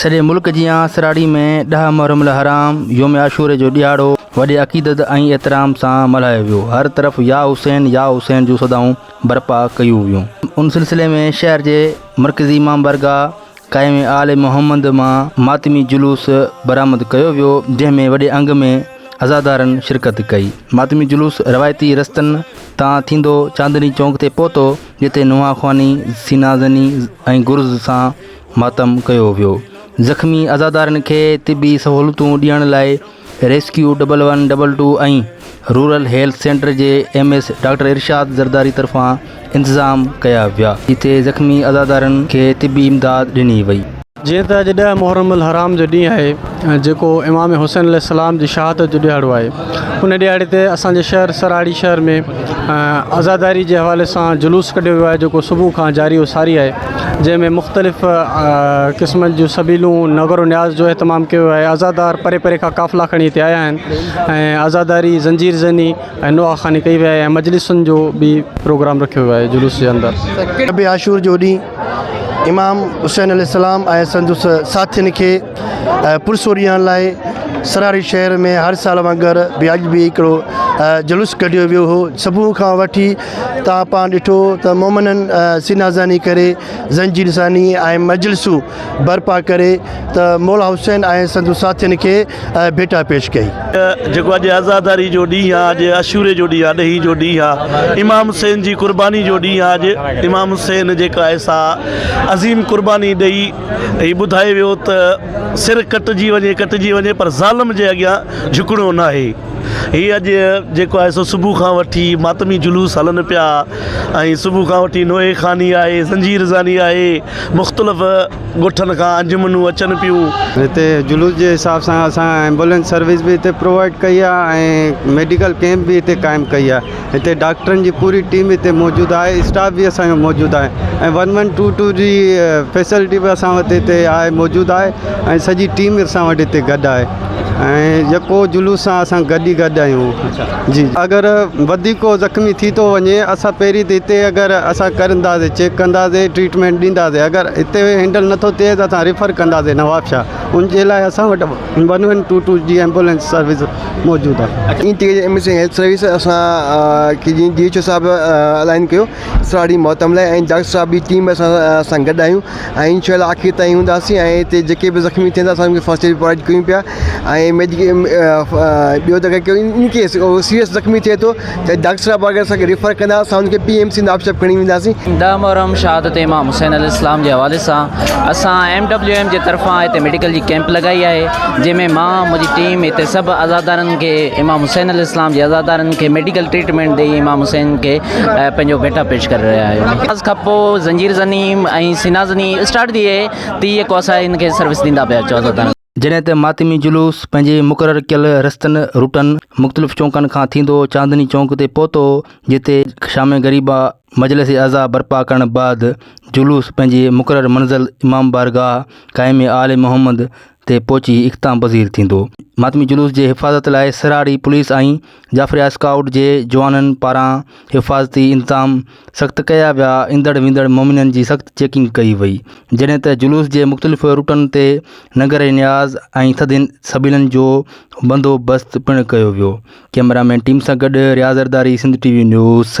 سڄي ملڪ جيان سراڙي ۾ ڏهه محرم الحرام يوم عاشوري جو ڏهاڙو وڏي عقيدت ۽ احترام سان ملهايو ويو هر طرف يا حسين يا حسين جون صدائون برپا ڪيون ويون ان سلسلي ۾ شهر جي مرڪزي امام بارگاهه قائم آل محمد مان ماتمي جلوس برآمد ڪيو ويو جنهن ۾ وڏي انگ ۾ عزادارن شرڪت ڪئي ماتمي جلوس روايتي رستن تان ٿيندو چاندني چونڪ تي پهتو جتي نونهان خواني سينا زني ۽ گرز سان ماتم ڪيو ويو. زخمي عزادارن کي طبي سهولتون ڏيڻ لاء rescue double one double two ۽ rural health centre جي M S doctor Irshad Zardari طرفان انتظام ڪيا ويا جتي زخمي عزادارن کي طبي امداد ڏني وئي. جيئن ته اڄ ڏهه محرم الحرام جو ڏينهن آهي جيڪو امام حسين عليه السلام جي شهادت جو ڏهاڙو آهي ان ڏهاڙي تي اسان جي شهر سراهاڙي شهر ۾ عزاداري جي حوالي سان جلوس ڪڍيو ويو آهي جيڪو صبح کان جاري و ساري آهي. جنهن ۾ مختلف قسمن جون سبيلون نغر و نياز جو اهتمام ڪيو ويو آهي عزادار پري پري کان قافلا کڻي هتي آيا آهن ۽ عزاداري زنجير زني ۽ نوحه خواني ڪئي وئي آهي ۽ مجلسن جو به پروگرام رکيو ويو آهي جلوس جي اندر شب عاشور جو ڏينهن امام حسين عليه السلام ۽ سندس ساٿين کي پرسوري هڻڻ لاء سرهاري شهر ۾ هر سال وانگر به اڄ به هڪڙو جلوس ڪڍيو ويو هو صبح کان وٺي تان پان ڏٺو ته مومنن سينا زني ڪري زنجير زني ۽ مجلسون برپا ڪري ته مولا حسين ۽ سندس ساٿين کي ڀيٽا پيش ڪئي. جيڪو اڄ عزاداري جو ڏينهن آهي، اڄ عاشوري جو ڏينهن آهي، ڏهي جو ڏينهن آهي، امام حسين جي قرباني جو ڏينهن آهي، اڄ امام حسين جيڪا آهي سا عظيم قرباني ڏئي هي ٻڌائي ويو ته سر ڪٽجي وڃي ڪٽجي وڃي پر ظالم جي اڳيان جهڪڻو ناهي. هي اڄ جيڪو آهي سو صبح کان وٺي ماتمي جلوس هلن پيا ۽ صبح کان وٺي نوحي خاني آهي زنجير زاني آهي مختلف ڳوٺن کان انجمنون اچن پيون. هتي جلوس جي حساب سان اسان ايمبولينس سروس به هتي پرووائيڊ ڪئي آهي ۽ ميڊيڪل ڪيمپ به هتي قائم ڪئي آهي هتي ڊاڪٽرن جي پوري ٽيم هتي موجود آهي اسٽاف به اسان جو موجود آهي ۽ ون ون ٽو ٽو جي فيسلٽي به اسان وٽ هتي آهي موجود آهي ۽ سڄي ٽيم اسان وٽ هتي گڏ آهي ۽ يڪو جلوس سان اسان گڏ ئي گڏ آهيون جي اگر وڌيڪ ڪو زخمي ٿي ٿو وڃي اسان پهرين ته هتي اگر اسان ڪرنداسي چيڪ ڪنداسي ٽريٽمينٽ ڏينداسي اگر هتي هينڊل نٿو ٿئي ته اسان ريفر ڪنداسي نوابشاهه ان جي لاء اسان وٽ ون ون ٽو ٽو جي ايمبولينس سروس موجود آهي. اين ٽي اي جي M S N health service اسان کي جيئن ڊي ايچ او صاحب الائن ڪيو ساري موتم لاء ۽ ڊاڪٽر صاحب جي ٽيم اسان سان گڏ آهيون ۽ ان شاء الله آخر تائين هونداسين ۽ هتي جيڪي به زخمي ٿين ٿا اسان کي فرسٽ ايڊ پرووائيڊ ڪريون پيا ۽ ميڊيڪل ٻيو ته ان ڪيس سيريس زخمي ٿئي ٿو جڏهن ڊاڪٽر صاحب وغيره اسان کي ريفر ڪندا اسان ان کي P M C Nawab Sharif کڻي وينداسين. ڏهه محرم شهادت امام حسين عليه السلام جي حوالي سان اسان ايم ڊبليو ايم جي طرفان هتي ميڊيڪل جي ڪيمپ لڳائي آهي جنهن ۾ مان منهنجي ٽيم هتي سڀ عزادارن کي امام حسين عليه السلام جي عزادارن کي ميڊيڪل ٽريٽمينٽ ڏئي امام حسين کي پنهنجو ڀيٽا پيش ڪري رهيا آهيون نماز کان پوء زنجير زني ۽ سينا زني اسٽارٽ ٿي ويئي تي يڪو اسان هن کي سروس ڏيندا پيا اچو عزادارن جڏهن ته ماتمي جلوس پنهنجي مقرر ڪيل رستن، روٽن، مختلف چونڪن کان ٿيندو چاندني چونڪ تي پهتو، جتي شام غريبا مجلس عزا برپا ڪرڻ بعد جلوس پنهنجي مقرر منزل امام بارگاهه قائم آل محمد تي پهچي اختتام پذير ٿيندو. ماتمي جلوس جي حفاظت لاء سرهاڙي پوليس ۽ جعفريا اسڪائوٽ جي جوانن پاران حفاظتي انتظام سخت ڪيا ويا، ايندڙ ويندڙ مومنن جي سخت چيڪنگ ڪئي وئي، جڏهن ته جلوس جي مختلف روٽن تي ننگر نياز ۽ ٿڌين سبيلن جو بندوبست پڻ ڪيو ويو، ڪئميرا مين ٽيم سان گڏ Riaz Zardari Sindh T V news سرحد.